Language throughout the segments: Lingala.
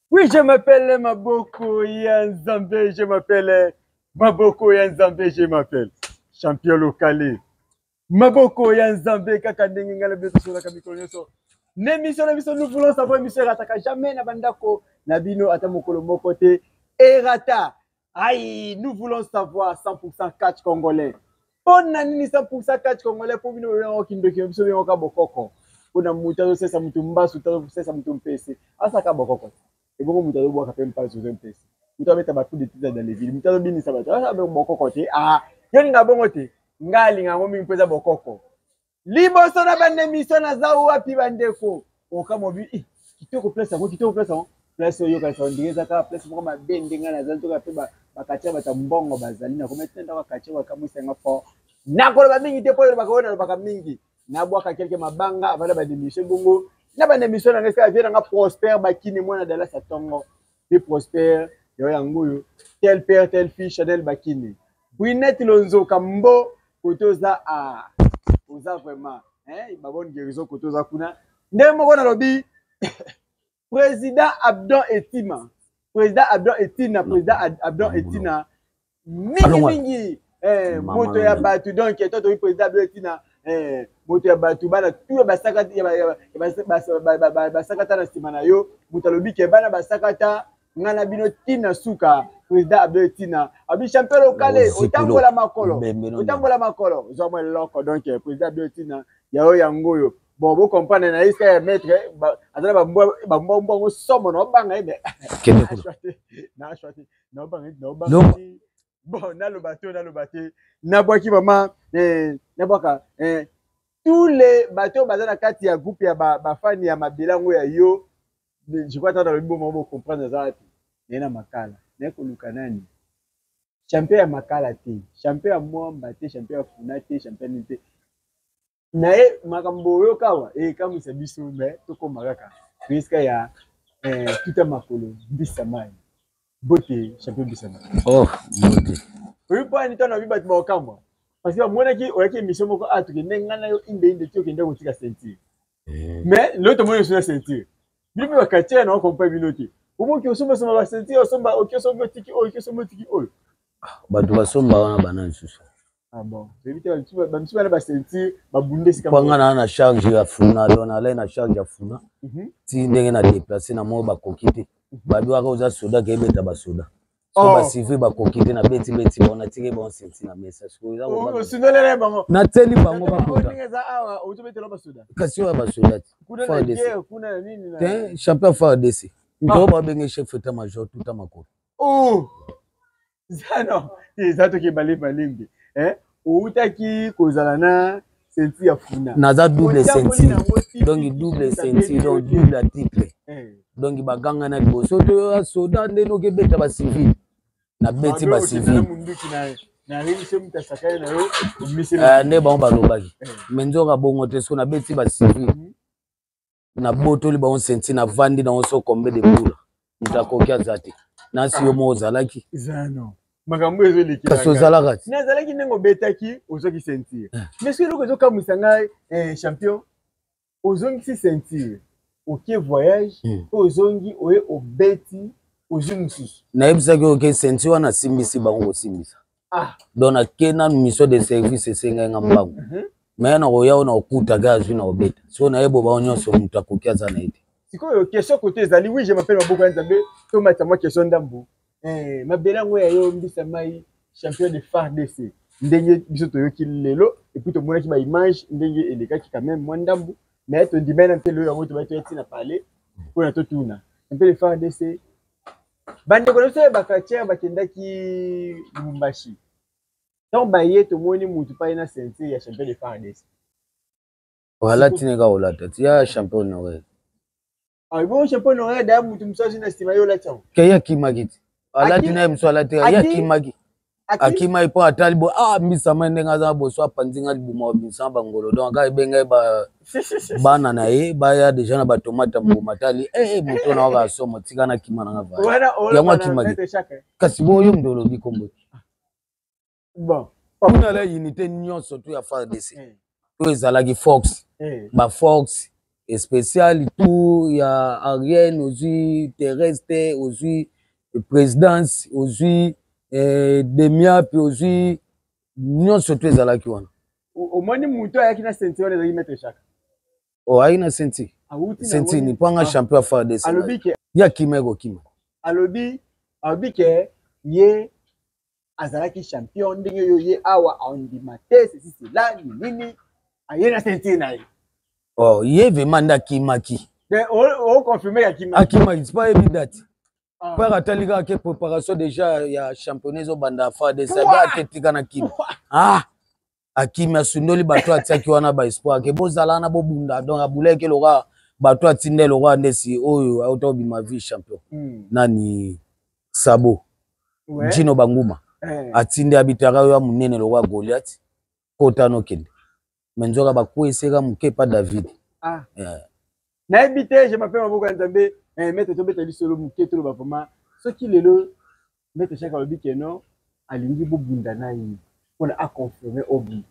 Oui, je m'appelle Maboko Yanzambe, je m'appelle Maboko Yanzambe, je m'appelle Champion Locale. Maboko Yanzambe, kaka ndenge ngala beto sola kamikolo nyoso. N'emission na biso nous voulons savoir émission rataka jamais na bandako na bino ata mokolo moko te erata. Aïe, nous voulons savoir 100% catch congolais. Mpo na nini 100% catch congolais mpo bino bobenga oki ndoki na biso benga oka bokoko. Mpo na moto azosesa moto mbasu, moto azosesa moto mpese. Asaka bokoko. Ebongo moto azobwaka mpe mpasu ozo mpese. Moto abeta ba coup de tisa dans les villes. Moto azobinisa bato. Asaka bokoko te. Ah, yo linga bongo te. Nga alinga yango mingi mpo eza bokoko. liboso na banda emission naza wapi bandeko okamobi eh, kitoko place yango kitoko place yango place oyo yokanisa ondenge eza kaka place moko mabe nde ngai nazali toka mpe bakatia bato ya mbongo bazali nakomete ndako akatia bakamwisa yanga fort nakoloba mingi te mpo elobaka oyo nalobaka mingi nabwaka kelke mabanga avanda bademission bongo na bademission na ngai sika vie nanga prospère bakini mwana dalasa ntongo Pe Prosper, yo yango oyo tel père tel fils Chanel Bakine. Brunette Lonzoka mbo kote oza ah oza vraiment hein ba bonne guérison kote oza kuna. Ndenge moko nalobi président Abdon Etima. Président Abdon Etina, président Abdon Etina. mingi mingi eh, moto ya bato donc to toyi président abele ntina eh, moto ya bato bana tu ya basakata na nsima na yo moto alobi ke bana basakata ngai na bino ntina suka président abele ntina abi champion lokale otambola makolo otambola makolo zwa mwa eloko donc eh, président abele ntina yayo yango oyo bon bocomprendre na esika ya maître aza na bambwa yango somo na obanga ye me kende kuna donc bon naloba te naloba te nabwaki vraiment eh, nabwaka eh, tous les bato oyo baza na kati ya groupe ya bafani ba ya mabela yango ya yo je crois tata lobi bomoko bocomprendre aza wapi naye na makala naye koluka nani champion ya makala te champion ya mwamba te champion ya funa te champion nini te naye makambo oyoka awa ekamwisa biso me tokoma kaka toyesika ya eh, tuta makolo mbisa mai bote champion mbisa mai oh, bote oyo mpo ani ntano abi bato baokamwa parce que bamonaki oyaki émission moko a ah, tokende ngai na yo indeinde ti okende kotika ceinture eh. mais lelo tomoni oso na ceinture bino mpe bakatiere na okompa bino te omoki osombasomba basenti osomba oki osombi otiki oyo oki osombi otiki oyo bato basomba wana bana lisusu Ah bon, toyebi te bamisusu bana basenti babunda esika mpo nga naa na charge ya funa don alai na charge ya funa mhm. ti ndenge na déplace na moko bakoki te mhm. babiwaka oza soda kebeta basoda so oh. basivile bakoki te na beti beti bango natiki bango senti na mesa sikoyosundolela oh, bango nateli bango bakokasi oyo ya basoda te fardc te champion fardc nto babenge chef etat major tuta makolo zano eza toke bale balembe eh outaki kozala na ceinture ya funa naza double ceinture donc double ceinture donc double ya titre eh. donc baganga na liboso to ya soda nde noki ebeta bacivile nabeti bacivile eh, nde bango balobaki eh. me nzoka bongo te so nabeti bacivile mhm. nabotoli bango senti navandi nango so kombe de bula moto akoki aza te nasi yo moko ozalaki makambo ezoleki kasi ozalaka ti nazalaki ndenge obetaki ozwaki ceinture eh. mais soki eloko ezokamwisa ngai eh, champion ozongisi ceinture oke voyage mpe hmm. ozongi oye obeti ozwi mosusu nayebisaki oke ceinture wana asimbisi bango kosimbisa ah. donc nake nanu mission de service esengai nga mbangu mm -hmm. me nakoya oyo nakokuta ga azwi na kobeta so nayebo bao nyonso moto akoki aza na ye te sikoyo question kote ezali wi je mapele maboko ya nzambe tomatisa mwa question ndambo eh, mabele yango ya yo mbisa mai champion de fardc ndenge biso toyoki lelo epuis tomonaki baimage ndenge elekaki quand même mwa ndambo me tondimai na mpe lelo yango tobaki toya ntina pale mpona totuna mpe le fardc bandeko na biso ya bacratiere bakendaki lubumbashi ntango baye tomoni motu pai na ceinture ya champion de fardes alati neka olata ti ya champion honoraire ah, bo champion honoraire daya motu mosusu azwi na nsima ye olati yango ke ye akimaki ti alati naye mosusu alati ye akimaki akima epo atali bo ah mbisa mai ndenge aza boso apanzi nga libuma wa mbisa na bangolo donc aka ebenge ye bana na ye baya deja na batomate ya mbuma atali e eh, eh, moto na waka somo tika na kima na nga va yango akimaki kasi bo yo moto olobi kombo kuna la unité nyonso tu ya fardc eh. to ezalaki fox eh. ba fox especial tout ya ariane ozwi therese te ozwi présidence ozwi eh, demia mpe ozwi nyonso to ezalaki wana omoni moto ayaki na senti wana ezalaki maître chaka o oh, ayaki na senti senti ni mpo anga ah. champion ya fardes ye akima ekokima alobi alobi ke ye azalaki champion ndenge yo ye awa andima te ceci cela nini aye na ceinture na ye oh ye vraiment nde akimaki oconfirme akimaki akimaki sipa ayebi date ah. père atali kaka ke préparation déjà ya championnat ezobanda fa de sabi aketika na kini ah akimi asundoli bato atiaki wana ba espoir ke bozala wana bobunda donc abulaki loka bato atinda eloka nde si oyo auta obima vie champion mm. nani sabo ouais. jino banguma eh. atindi abitaka yo ya monene loka goliath kota nokende me nzoka bakweseka moke pa david ah. eh. nayebi te je m'appelle maboko ya nzambe eh, mete tobeta lisolo moke toloba vraimen soki lelo mete shaka alobi ke non alingi bobunda na ye mpona aconfirme obi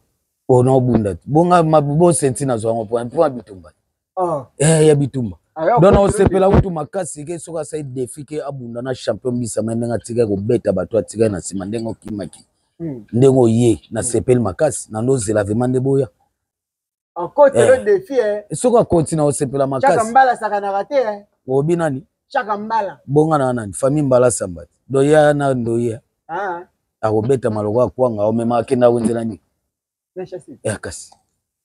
mpona obunda te bonga bosenti nazwa yango mpona mpo ya bitumba ah. eh, ya bitumba ah, don osepela kutu makasi ke soki asali defi ke abunda na champion bisama ndenge atikaki kobeta bato atikaki na nsima ndenge okimaki hmm. ndenge oye nasepeli makasi nando ozela vraimen nde boya okoti eh. le défi eh soki akoti na osepela makasi chaka mbala sakanaka te eh obi nani chaka mbala bonga na nani famille mbala sambati doya na ndoya ah akobeta maloko ya kwanga omema akenda wenzela nini eh kasi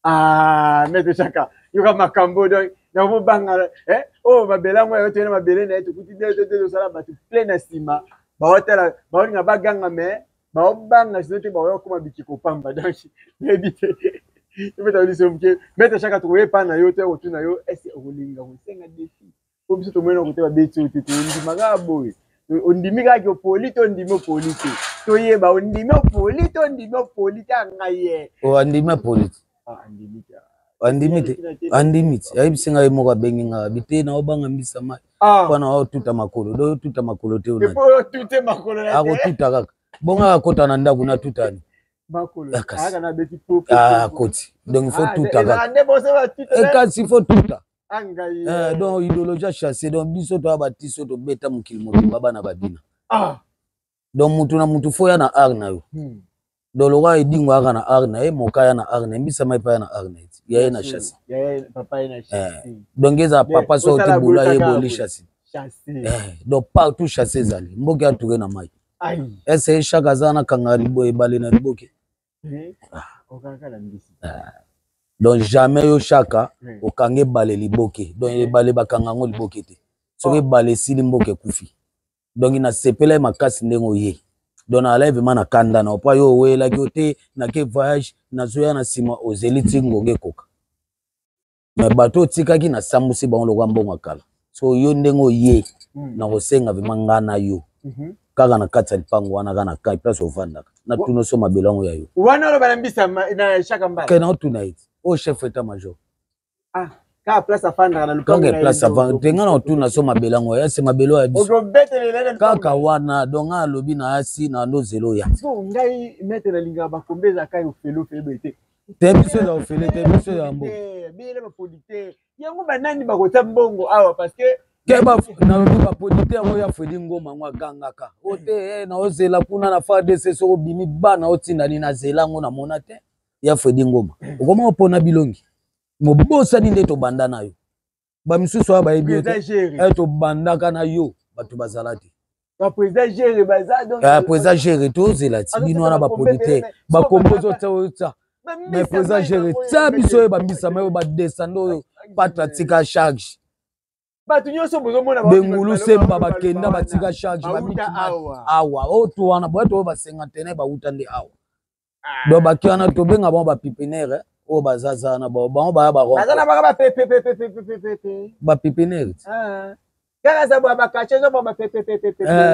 ah maître chaka yoka makambo donc na mobanga eh oh mabele yango yayo toyena mabele na ye tokuti te te te tosala bato plein na nsima baotala baolinga baganga mais baobanga sino te baoya kokoma bikeko pamba donc nayebi te ebeta liso moke mete shaka tokoye epai na yo to ya kotuna yo ese okolinga kosenga defi po biso tomoni na kote babeti oyo te tondimaka boye ondimi kaka opoli to ondimi opoli te toyeba ondimi opoli to ondimi opoli te ya ngai ye ondimi opoli te ah, andimi te andimi te ayebisi ngai moko abengi ngai abi te naobanga mbisa mai ah. mpo na otuta makolo do otuta makolo te akotuta kaka bongo akota na ndako natutani akoti donc fo tuta kakasi fo tuta donc idéologie achasse donc biso toya batiso tobeta mokili mobimba bana babina ah. donc mutu na mutu fo ya na art na yo hmm. donc lokola edingo ayaka na art na ye moka ya na art na ye mbisama epa ya na art na ye ya ye na chasi eh. donc eza papa so te bula ye boli chasi eh, donc partout chasi ezali mboki atuke na mai ese shaka aza na kanga libo ebale na liboke eh, ah. donc jamais yo shaka okanga ebale liboke donc ebale bakanga yango liboke te soki ebale esili mboka ekufi donc nasepelaki makasi ndenge oye donc nazalaki vraimen na kanda na opo yo owelaki yo te nake voyage nazoya na nsima ozeli ti ngonga ekoka me bato otikaki nasambusi bango lokola mbongo ya kala so yo ndenge oye hmm. nakosenga vraimen ngai na yo mhm. kaka na kati ya lipango wana kaka na kai place ofandaka natuna so mabelo yango ya yo wana oloba na mbisa na shaka mbala kena otuna ye oyo oh, chef etat major ah kaka place afandaka na lupango kaka place afandaka te ngai na otuna so mabele yango ya se mabele oyo ya biso kaka wana donc ngai alobi na asi na ndo zelo ya ngai mete na lingaka bakombe ezaka yo felo febe te te biso eza ofele te biso ya mbo biyele bapodi te yango banani bakotya mbongo awa parce que nalobi baprodite yango ya fredi ngoma yango agangaka o te eh, naozela kuna na fardc soko obimi bana otindani nazela yango namona te ya fredi ngoma okoma opona bilongi mobosani nde tobanda na yo bamisusu oyo bayebi eh, tobandaka na yo bato bazala te président gere tozela ti bino wana bapolitike bakompozi otsa mais président gere tsa biso oyo bambisama oyo badesande oyo patra tika charge bato nyonso bozomona bengulu semba bakenda batika charge babiki awa oto oh, wana boyeto oyo basengantene bauta nde awa ah. donc baki wana tobenga bango bapipinere eh, oyo bazaza wana bango baya bapipinere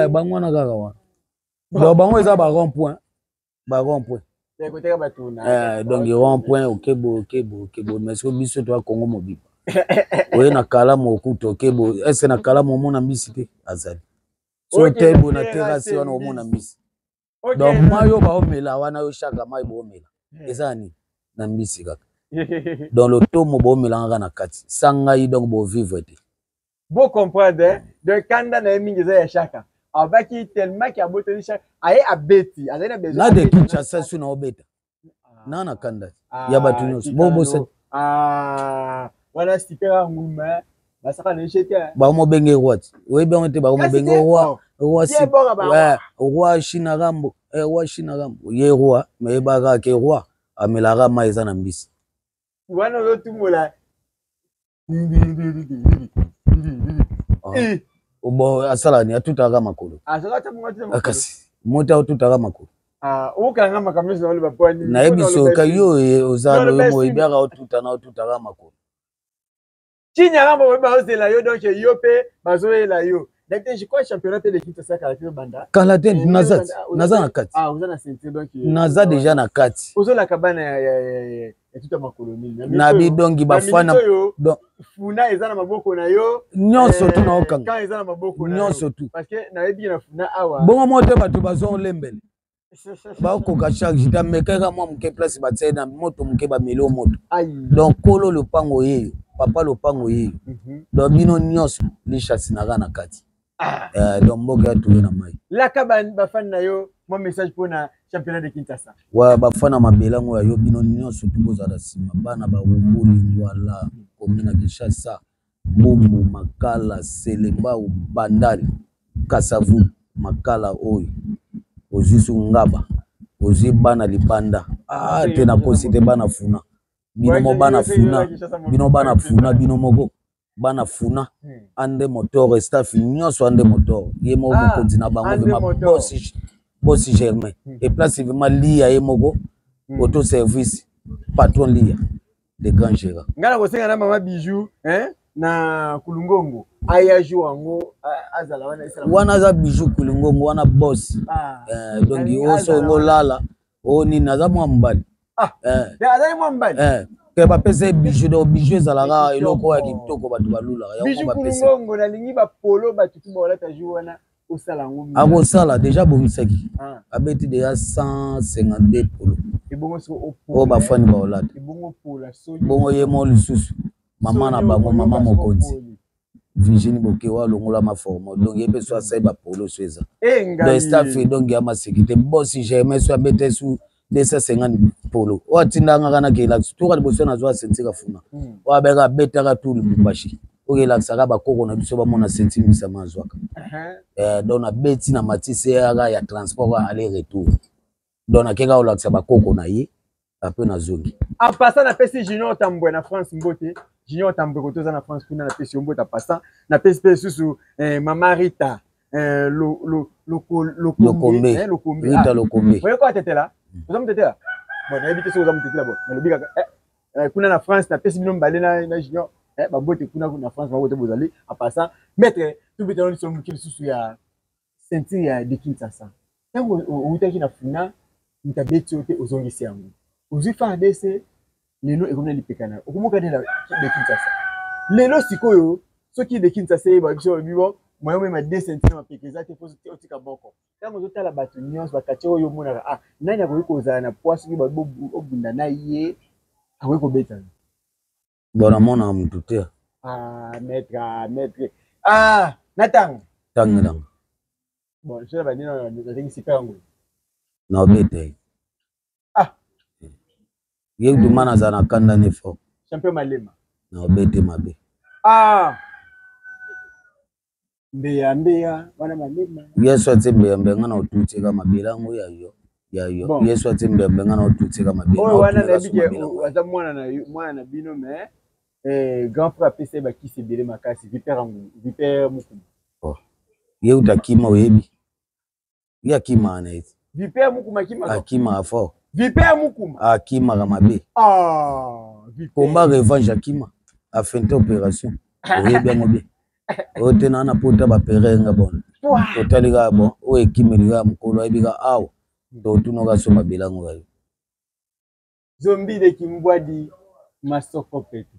bango wana kaka wana donc bango eza ba rond point ba rond point eh, donc rond point okebo okebo okebo mais soki biso toa congo mobimba oye na kalamu okuta okebo ese na kalamu omona mbisi te azali so tebo na terasi wana omona mbisi donc mai oyo baomela wana yo shaka mai boomela eh. eza nini na mbisi kaka donc lotomo boomelangaka na kati sa ngai donc bovivre te bo comprendre hein? donc kanda na ye mingi eza ya shaka abaki tellement ke abotoli shaka aye abeti azali na besoin na de kinshasa su na obeta ah. na na kanda ah, ya bato nyonso bobosani ah, wana sikera nguma hein? basaka na echete hein? bamobenge roi ti oyebi yango te bakomobenge roi roi eh, roi china rambo eh, roi china rambo ye roi meyebaka ke roi amelaka mai eza na mbisi wana ozotumola eh. obo asala ni atutaka makolo ah, kasi mota otutaka makolo ah, nayebi soka yo oza moyebiaka otuta na otutaka makolo kinya ngambo oyo bazozela yo donc yo mpe bazoyela yo kala te naza na kati naza deja na kati etuta makolo nini na na bi donc ba fana donc funa eza na maboko na yo nyonso tu na okanga quand eza na maboko na nyonso tu parce que na yebi na funa awa bongo mo te bato bazo lembele bakoka chaque jour amekaka mwa moke place batie na moto moke bameli o moto donc kolo lopango yeyo papa lopango yeyo mhm. donc bino nyonso lishasinaka na kati Ah. Euh, donc mboka ya toye na mai laka bafani na yo mwa message mpo na championnat de kinshasa wa bafani na mabele yango ya yo bino nyonso tu bozala nsima bana bawumbuli ngwala komi na kinshasa bumbu makala selembau bandali kasavu makala oyo ozwi su ngaba ozwi bana libanda ah, te nakosi te bana funa bino mo bana funa bino bana funa bino moko bana funa hmm. ande motor staff nyonso ande motor ye moko ah, mokonzi na bango vema bosi germain hmm. e place vema liya ye moko hmm. auto service patron liya le grand gérard ngai nakosenga na mama bijou hein? na kulungongo aya jour yango azala wana wana aza bijou kulungongo wana bosi ah, eh, donc oso olala o nini aza mwa mobali ah, eh. azali mwa mobali eh. ke bapesa ye bijou donc bijou ezalaka eloko ya kitoko bato balulaka yango nalingi bapolo bato tu baolata jour wana osala yango akosala deja abongisaki ah. abeti deja 152 polo oyo bafani baolata bongo ye mo lisusu mama na bango mama mokonzi Virginie Bokewa longola ma forme donc ye peso asai ba polo so eza donc staff ye donc ya maseki te bosi jamais so abeta su 250 polo oyo atindanga kana kelakisi toka liboso nazwa sentika funa hmm. oyo abeka abetaka tu lubumbashi oyo elakisaka bakoko na biso bamona senti mbisa mazwaka uh-huh. eh, donc nabeti na matise yaka ya transport aller retour donc nakeka kolakisa bakoko na ye ape nazongi en passant napesi junior tambwe na france mbote junior tambwe koto oza na france kuna napesi yo mbote en passant napesi mpe lisusu eh, mama rita eh, lo, lo, lokombe eh, lokombe rita ah. lokombe oye kwa tetela mm. oza motetela bon nayebi te soki oza motetela bon nalobi kaka eh, eh, kuna na france napesi bino mibale na, na junior eh, babote kuna na france babote bozali en passant maître tubitano liso moki lisusu ya Ceinture ya de Kinshasa tango owutaki na funa mutu abeti yo te ozongisi yango ozui fardc lelo ekomi na lipeka nayo okomoka nde na de Kinshasa lelo sikoyo soki de Kinshasa eyeba biso balobi bo moyen omema de ceinture na mapeka eza te po otika boko tango ozotala batu nionso bakatie oyo omonaka ah nani akoki kozala na poids soki balobi obunda na ye akoki kobeta yo bona mona mutu te ah maître ah, maître ah natanga tanga hmm. nanga bon je ba nino natengi sika yango na obete ah ye duma na za na kanda ne fort champion malema na obete mabe ah mbeya mbeya wana malema yesu atie mbeya mbeya nga na otuti eka mabela yango ya yo ya yo bon. yesu atie mbeya mbeya nga na otuti eka mabela oyo wana nayebi ke aza mwana na mwana na bino mais eh, grand frère apesa ye bakisi ebele makasi vipere vipere mokumu oh. ye uta kima oyebi ye akimaka na ye vipere mukuma akimaka akimaka fort vipere mukuma akimaka mabe ah, combat revanche akima afinte opération oyebi yango bien oyo te naa na pota bapere nga bon totali kaka bon oyo ekimeli kaka mokolo ayebi ka awa totunaka so mabela yango kayo zombi de kimbwadi masoko pete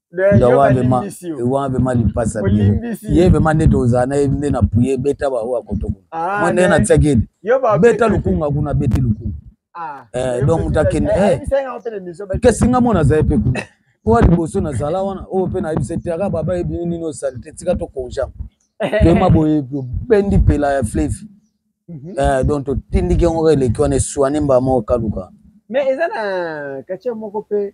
wana vrema lipasa biro ye vrema nde tozala na ye nde na puye beta baoyo akotoko ah, mwa ndenge natiaki ete beta lukunga kuna beti lukunga ah, eh, donc moto akende eh. kesi nga mona azali mpe kuna owa liboso nazala wana oyo mpe nayebisa ete aka baba yebini nini osali te tika tokonjama toyema boye obendi pela ya flevi mhm. eh, donc totindiki yango eleki wana eswane mbaa moko kaluka mais eza na katia moko mpe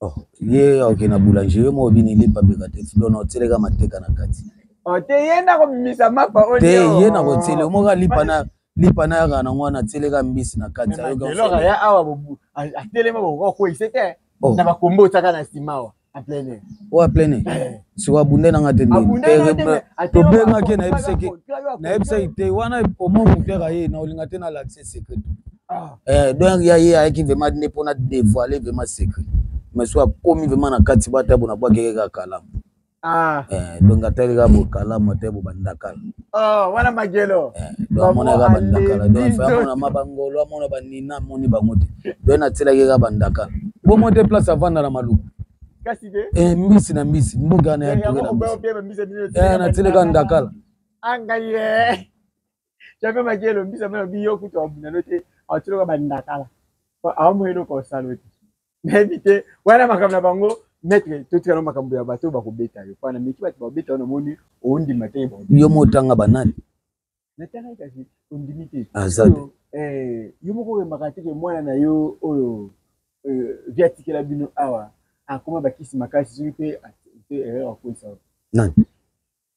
Oh, ye aoke na boulanger yo moko bini lipa beka te dono otieleka mateka na kati oh, te ye nakobimisa mapa oyo te ye nakotiele omoko alipa na lipa na yaka nango wana atieleka mbisi na kati ayoka ya awa atelema bokokweyise te oh. na bakombo otaka na nsima awa oyo aplene eh. sikoyo abunde nanga te tobengaki nayebisaki nayebisaki te wana omo motu yaka ye na olinga te nalakisa secret ah. eh, donc ya ye ayaki vraiment nde mpona dévoile vraiment secret mais so akomi vraiment na kati bata bona bwakeke kaka kalamu Ah. Eh, donc atali kaka bokalama te bobandakala oh, wana magelo eh, donc amonaka bandakala donc fa amona ma bangolo amona banina amoni bango te donc natielaki kaka bandakala bomo te place avanda na maluku eh, mbisi na mbisi mboka na ya toke na mbisi natieleka ndakala angaye jape maki elombi sama lobi yo kutu abunda no te atiloka bandakala aomoi eloko osalo te nayebi te wana makambo na bango maître totikana makambo ya bato bakobeta yo pana meki bato bakobeta yo namoni ondima te yo motanga banani natangaki kasi ondimi te aza te eh, yo moko oyembaka te ke mwana na yo oyo eh, vi atikela bino awa akoma bakisi makasi soki mpe erreur akoisa nani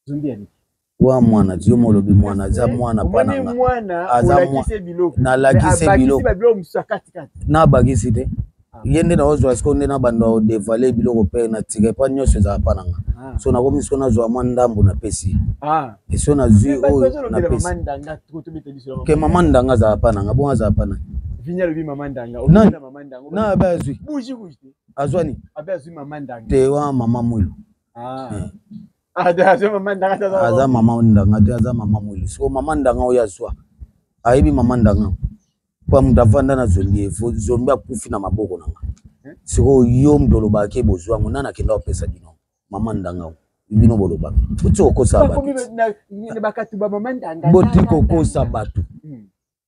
zumbi ya biki wa mwana yo molobi mwana aza mwana pana nga mwana aza olakise biloko na lakise biloko ba biloko musakati kati na bagisi te ah. ye nde na ozwa siko nde na banda o devaler biloko pe na tika pa nyonso ezala pa na nga ah. so nakomi siko nazwa mwa ndambo napesi ah. eso nazwi oyo napesi ke mama ndanga azala pa na nga bongo azala pa na vinya lobi mama ndanga na abe azwi azwani te wa mama mwilo Ah. Hmm. Ah, aza mama ndanga te aza mama ndanga te aza mama mwili so mama ndanga oyo azwa ayebi mama ndanga mpo moto avanda na zombi ye fo zombi akufi na maboko na nga eh? sikoyo yo moto olobaka ke bozwa yango nani akenda kopesa bino mama ndanga oyo bino bolobaka boti kokosa batu boti kokosa batu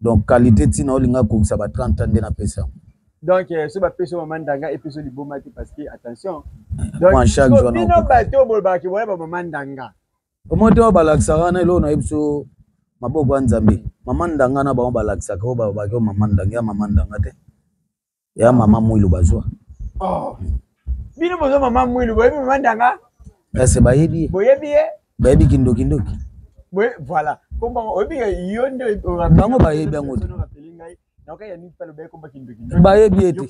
donc qualité ntina olinga kokisa ba 30 ans nde napesa yango donc euh, so bapesi mama ndanga epesi yo liboma te parce que attention bino bato bolobaki boya bamama ndanga omoi te oyo balakisaka wana eloko nayebi so maboko ya nzambe mama ndanga na bango balakisaka oyo balobaki oyo mama ndanga ya mama ndanga te ya mama mwilu bazwa oh. bino boza mama mwilu boyebi mama ndanga ese bayebi ye boyebi ye bayebi kindokindoki voilà oyebi yo nde bango bayebi yango te bayebi ete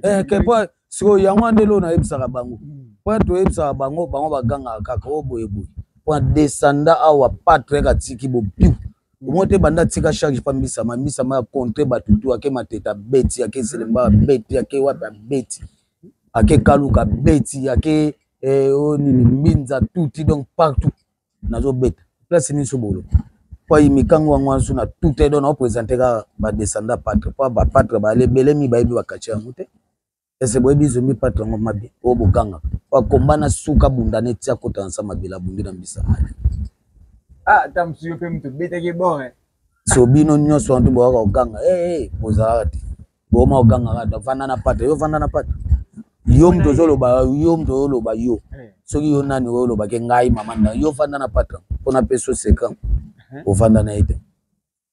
eh, kepo sikoyo yango ande loo nayebisaka bango hmm. mpo toyebisaka bango bango bagangaka kaka o oh, boyeboye mpo descenda awa patrek atiki bopiu omoni te banda tika charge pa mbisama mbisama ya contre bato tu ake mateta abeti ake selemba abeti ake wapi abeti ake kaluka abeti ake eh, oyo oh, nini mbinza tuti donc partout nazobeta place nyonso bolo pai mikango yango wana so na tuta edo naopresente kaka badescenda patre mpo bapatre baale ebele mi bayebi bakatie yango te ese boyebi zombi patu yango mabe oyo bogangaka akomba na suka bunda ne ti akota na sa mabele abundi na mbisa mali ah, ata mosusu yo mpe moto obetaki bore eh. so bino nyonso wantu bokaka koganga ee eh, bozalaka te boma kogangaka ta vanda na pata yo vanda na pata yo moto ozoloba yo moto ozoloba yo eh. soki yo nani oyo olobaki ngai mama nda yo vanda na pata mpona peso sekan ovanda na ye te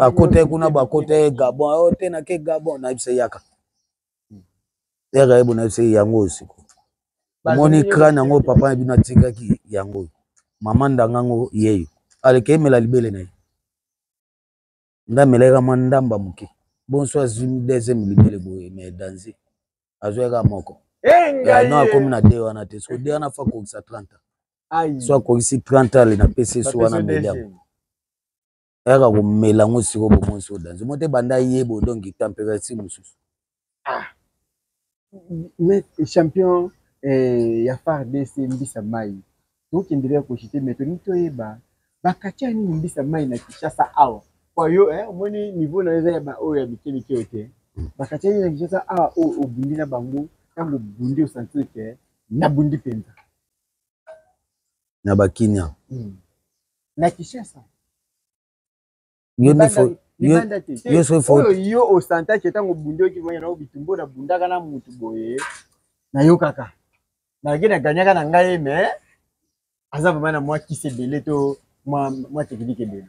akota ye kuna bakota ye gabon ayo oh, te nake gabon nayebisa yaka yaka ye bonayebisa ye yango oyo siko omoni crane yango papa na bino atikaki yango oyo mama ndanga yango yeyo aleke emela libele na ye nde amelaka mwa ndamba moke bonso azwi deuxième libele boye mais danze azwa yaka moko eh, no akomi na de wana te soko de wana fa kokisa 30 so akokisi 30 ale napesi so wana mbeli yango ayaka komela yango siko bomoi so danze mo te banda ye bo donc température mosusu ah. mais champion eh, ya fardc mbisa mai tokendele ya koshite me tolingi toyeba bakatya nini mbisa mai na kinshasa awa po yo eh, omoni niveau na eza ya baoyo ya mike mike oyo te hmm. bakatya nini na kinshasa awa oyo obundi na bango ntango obundi osantir ke nabundi mpenza na bakinia hmm. na kishasa yo nde fo yo soki fo oyo yo osantaki ntango obundaki boye na bitumbo nabundaka na motu boye nayokaka nalaki naganyaka na ngai me aza vraimen na mwa kisi ebele to mwa teknike ebele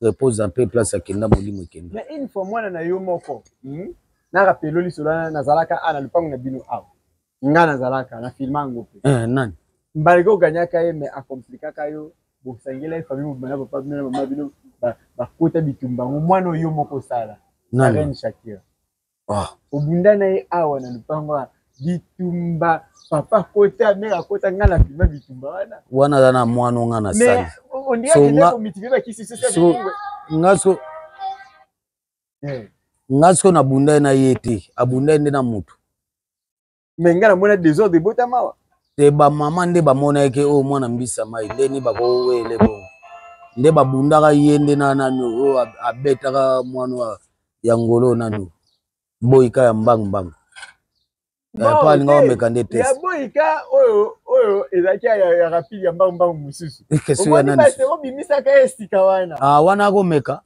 repose en paix place akenda molimo ekenda mais une fois mwana na yo moko hmm? na rapelo lisolo wana nazalaka a na lopango na bino awa nga nazalaka na filma yango mpe eh, nani mbalike oganyaka ye mais akomplikaka yo bosangela ye famille mobimba na papa bino na mama bino bakota bitumba yango mwana oyo moko osala arene shakira Ah. obunda na ye awa na lupango ya bitumba papa kota mere akota ngai na filma bitumba wana wana aza na mwana onga na sali nga siko nabunda ye na ye te abunda ye nde na motu me ngai namona desordre ebota mawa te bamama nde bamonaki oyo oh, mwana mbisa mai ndeni bakowele bongo nde babundaka ye nde na nani oyo oh, abetaka mwana ya ngolo nani boyika ya mbangbang eh, po alinga omeka nde test boyika oyo oyo ezalaki ya rapide ya mbangbang mosusu obimisa ka esika wana ah, wana akomeka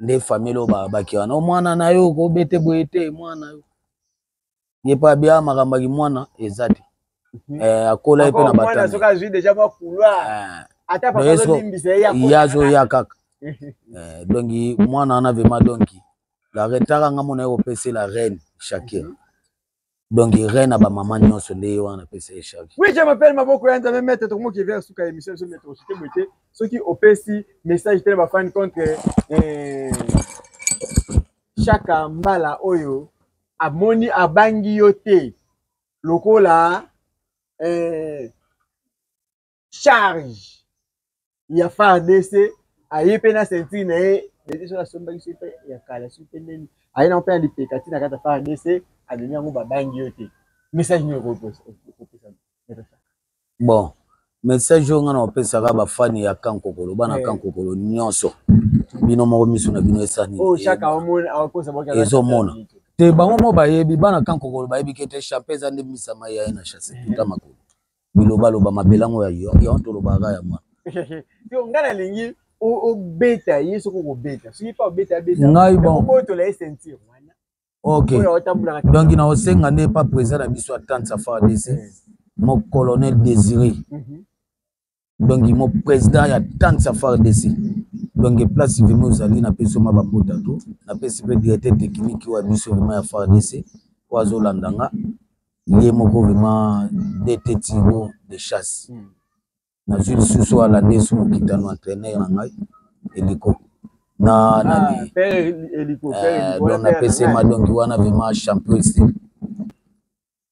nde famille oyo babaki wana mwana na yo kobete boye te mwana yo ye mpe abia makambo aki mwana eza te mhm. eh, akola ye mpe na batandeya azoya kaka donc mwana wana vraimen donki la retaka nga mona ye kopesela reine shakira mhm. donc reine na bamama nyonso nde ye wana napesa ye charge oui je m'appelle maboko ya nzambe mete tokomoki evere suka ya émission biso mete osute boye te soki opesi message te na bafani contre eh, shaka mbala oyo amoni abangi yo te lokola eh, charge ya fardc aye mpe na ceinture na ye dede soki asombaki soki mpe ya kala soki mpe ndeni aye nango mpe na lipeka ti na kati ya fardc amemi yango babangi yo te message nini okopesa bon message oyo ngai na opesaka bafani ya kankokolo bana eh. kankokolo nyonso bino moko miso na bino esani oh, ezomona te bango moko bayebi bana kankokolo bayebi ke te chape eza nde misama ya ye na chasse tuta makolo biloba loba mabelango ya yo yo tolobaka ya mwa yo nga na lingi obeta ye soki okobeta soki pa obeta abeta ngai bon obotola ye ceinture wana ok donc na osenga nde pa président na biso atante sa fara dc mo colonel désiré mhm. donc mo président ya tante sa fara dc donc place vraimen ozali napesi oma bambota to napesi mpe directeur technique oyo ya biso vraimen ya fara dc oyo azolanda nga ye moko vraiment dt tiro de chasse hmm. nazwi lisusu alande su mokitano entraîneur na ngai eliko na ah, nani eh, don napesema donki wana vraiment champion style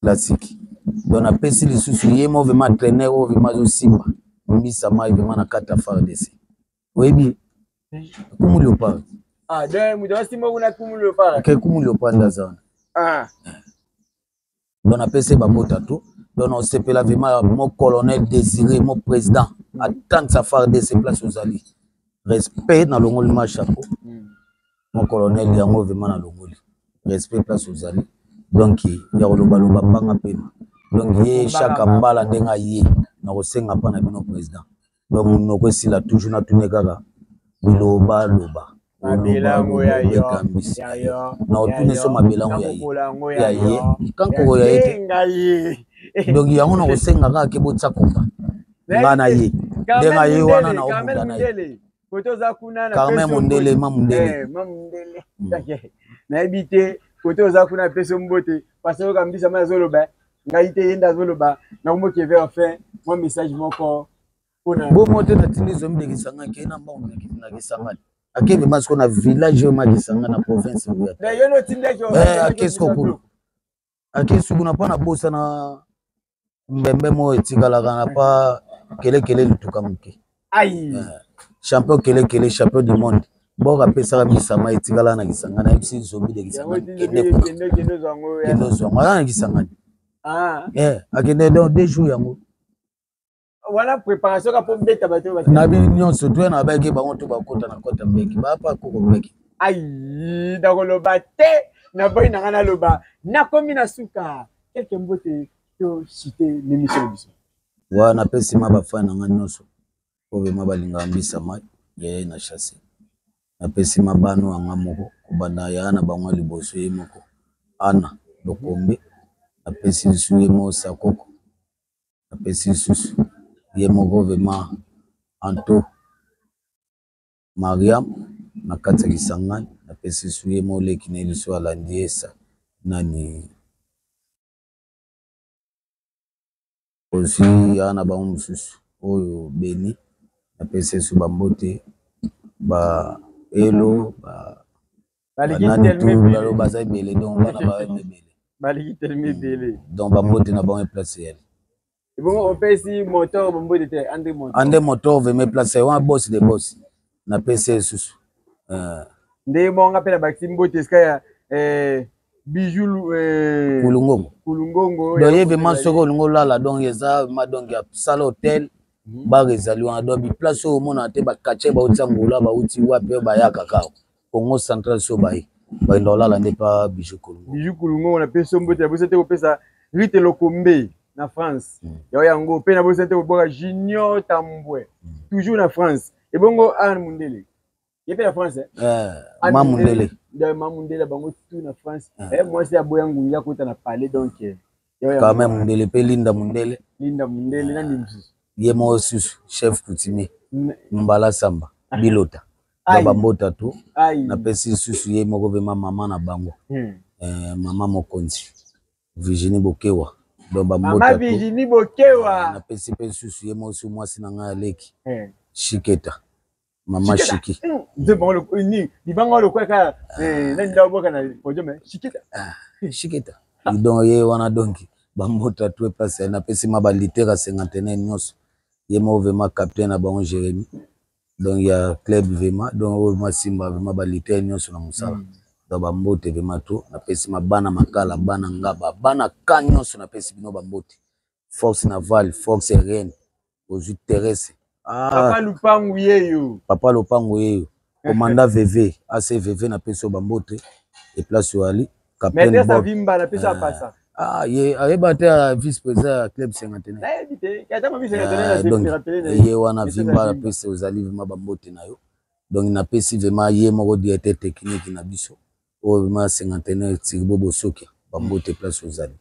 classique don napesi lisusu ye mo vraiment entraîneur oyo vraiment azosimba mbisa mai vraiment na kati ya fardc oyebi kumu leopard ah donc moto asimba kuna kumu leopard ke kumu leopard aza wana ah donc napesi bango tato donc osepela vraimen mo colonel désiré mo président atangisa fardc place ozali respect nalongoli ma chapeau hmm. mo colonel yango vraimen nalongoli respect place ozali donc ya kolobaloba mbanga mpema donc ye shaka mbala ndenge aye nakosenga mpa na bino président ba munoko esila toujours na tune kaka biloba loba mabelango ya yo ya yo na otune so mabelango ya ye ya ye kankoko ya ye te donc yango na kosenga kaka ke botya komba nga na ye nde nga ye wana na obunda na ye carmen mondele ma mondele eh, hmm. nayebi te kote oza kuna peso mbote pasoyoka mbisa ma azoloba ngai te ye nde azoloba nakomoki eve enfin mwa message moko mpona bo moto natindi zomi de kisanga ke na mbango na kisanga akende ma siko na village oyo ma kisanga na province akesi kokulu akesi kuna mpo nabosana mbembe moko etikalaka na pa kelekele lituka moke ayi eh, champion kele kele champion du monde boko apesaka misama etikala na kisanga na yebisi nzombi de kisanga kende ozwango aza na kisangani ah. eh, akende don deux jours yango wana préparation ka po beta bato na bi nyonso to na baki bango to bakota na kota mbeki ba pa koko mbeki ayi nakoloba te na boyi na ngai naloba nakomi na suka keke mbote to chite l'émission biso wa napesi ma bafani na ngai nyonso oyo vrema balingaka mbisa mai yayai na chasse napesi ma bano ya nga moko kobanda yaya na bango ya liboso ye moko ana lokombe napesi lisusu ye moko sakoko napesi lisusu ye moko vrema anto mariam na kati ya kisangani napesi lisusu ye moko leki na ye lisusu alandi esa nani Osi awa na bango mosusu oyo beni na pese esu bambote ba elo bananitulalo baza ebele don bana ba ebele baliki telemi ebele don bambote na bango eplace yali ebongo opesi motor bombote te ande motor ande motor veme place wana bosi de bosi na pese esusu uh. ndenge moko nga mpe na bakisi mbote esika ya eh, bijou eh, kulungongo kulungongo donc ye vraiment soki olingi olala donc eza ma donc ya sala hotel mhm. bar ezali wana donc biplace oyo omonana te bakatie bauti angola bauti wapi oyo bayaka kaka congo central so baye bakenda kolala nde pa bijou kulungongo bijou kulungongo na pese mbote ya bosa te kopesa rite lokombe na france mm. yango yango mpe na bosa te kobwaka junior tambwe mm. toujours na france ebongo arne mundele ye mpe na france eh, ma mundele ma mundele bango tu na france eh. eh, mwasi aboya ngungi akota na palais donc quand même mundele mpe linda mundele linda mundele na nini mosusu ye moko susu chef coutumier mbala samba ah. bilota na bambota to napesi nsusu ye moko vema mama na bango hmm. mama mokonzi Virginie Bokewa donc ba mbota Mama Virginie Bokewa na pesi pe susu ye mosi mwasi na ngai aleki eh. Shiketa mama Shiki nze bango loko ni libanga loko ka eh nani dawo boka na podium eh, Shiketa ah, Shiketa donc ye wana donc ba mbota tout est passé na pesi ma ba litera 51 nyonso ye mo vraiment capitaine na bango Jérémie donc ya club vraiment donc oyo vraiment simba vraiment ba lutteurs nionso na musala mm. donc ba mbote vraiment tout na pesi ma bana makala bana ngaba bana ka nionso na pesi bino ba mbote fox naval fox ren ozwi terese ah. papa lupangu yeyo papa lupangu yeyo komanda veve ase veve na pesi yo ba mbote eplace oyo ali capitaine Bob. Maître Vimba na pesa ah. pasa. Ah, ye ayeba te ya vice président ya club Sengatene. Nayebi te, kata ma vice Sengatene na zemi ah, rappelé na ye wana Vimba na pesa ozali vraiment ba mbote na yo. Donc na pesi vraiment ye moko directeur technique na biso. Oyo vraiment Sengatene Tirbo Bosokia, ba mbote place ozali.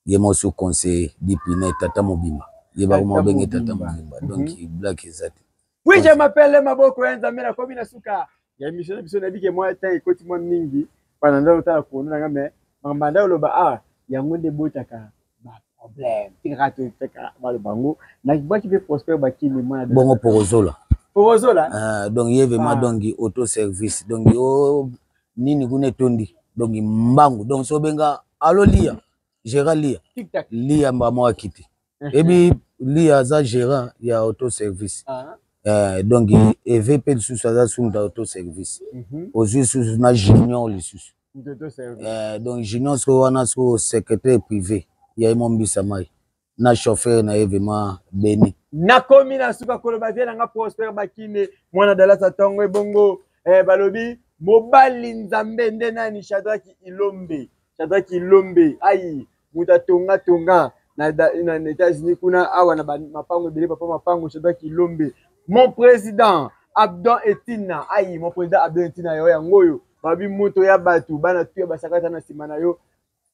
ye mo sous conseiller dipine tata mobimba ye bango mo benge tata mobimba mhm. donc black eza te oui je m'appelle maboko ya nzambe na komi na suka ya émission na biso nayebi ke mwa temps ekoti mwa mingi mpana nde otala kono nanga mais makambo anda oloba awa ah, yango nde ebotaka baproblème tikaka toteka baloba yango nakibwaki mpe prospère bakimi mwana bongo porozola porozola ah, donc ye vraiment ah. donc auto service donc yo nini kuna etondi donc mbangu donc so obenga alo lia gera lia lia mbamwa kiti ebi lia aza gérant ya auto service ah. eh, donc eve mpe lisusu aza sumta auto service mm -hmm. ozwi lisusu na junior lisusu eh, donc junior soko wana soko secrétaire privé ya ye mombisa mai na chauffeur na ye vraiment beni nakomi na suka koloba vie na nga prospère bakine mwana dalasa tongo ebongo eh, balobi mobali nzambe nde nani shadraki ilombe shadraki ilombe ayi moto atongatonga na, na, na, na états-unis kuna awa na mapango ebele papa mapango shadraki ilombe mon président abdon etina ayi mon président abdon etina yo yango oyo balobi moto ya bato bana tuya basakata na nsima na yo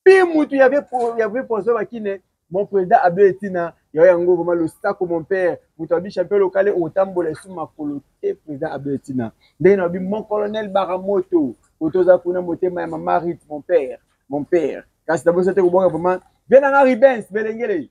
mpe mutu ya vrai poison bakine mon président abel etina yayo yango vraimen losako mon père moto abi champion lokale otambola esu makolo te président abel etina ndenge nabi mon colonel baramoto oto oza kuna motema ya mama rit mon père mon père kasi nabosa te kobwaka vraimen vie nanga ribens belengele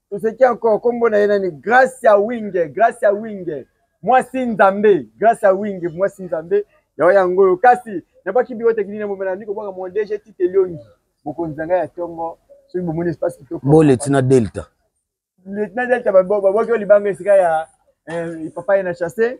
toseki encore nkombo na ye nani gracia winge gracia winge mwasi nzambe gracia winge mwasi nzambe yango yango oyo kasi nabwaki biro tekini na momela nandi kobwaka mon dg tite liongi mokonzi na ngai ya ntongo soki bomoni espace kitoko bo lieutenant delta lieutenant delta babwaki oyo libanga esika ya eh, papa ye na chasse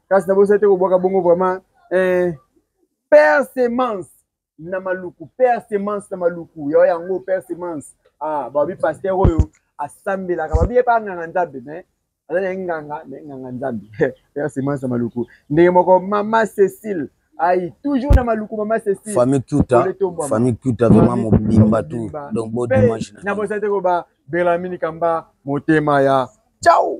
kasi na bosali te kobwaka bongo vraiment eh, père semence na maluku père semence na maluku yo yango père semence ah babi pasteur oyo asambelaka babi ye pa nganga nzambe mais aza na ye nganga mais nganga nzambe père semence na maluku ndenge moko mama cécile ayi toujours na maluku mama cécile famille kuta famille kuta vraiment mobimba tout donc bo dimanche na bosali te koba belamini kamba motema ya ciao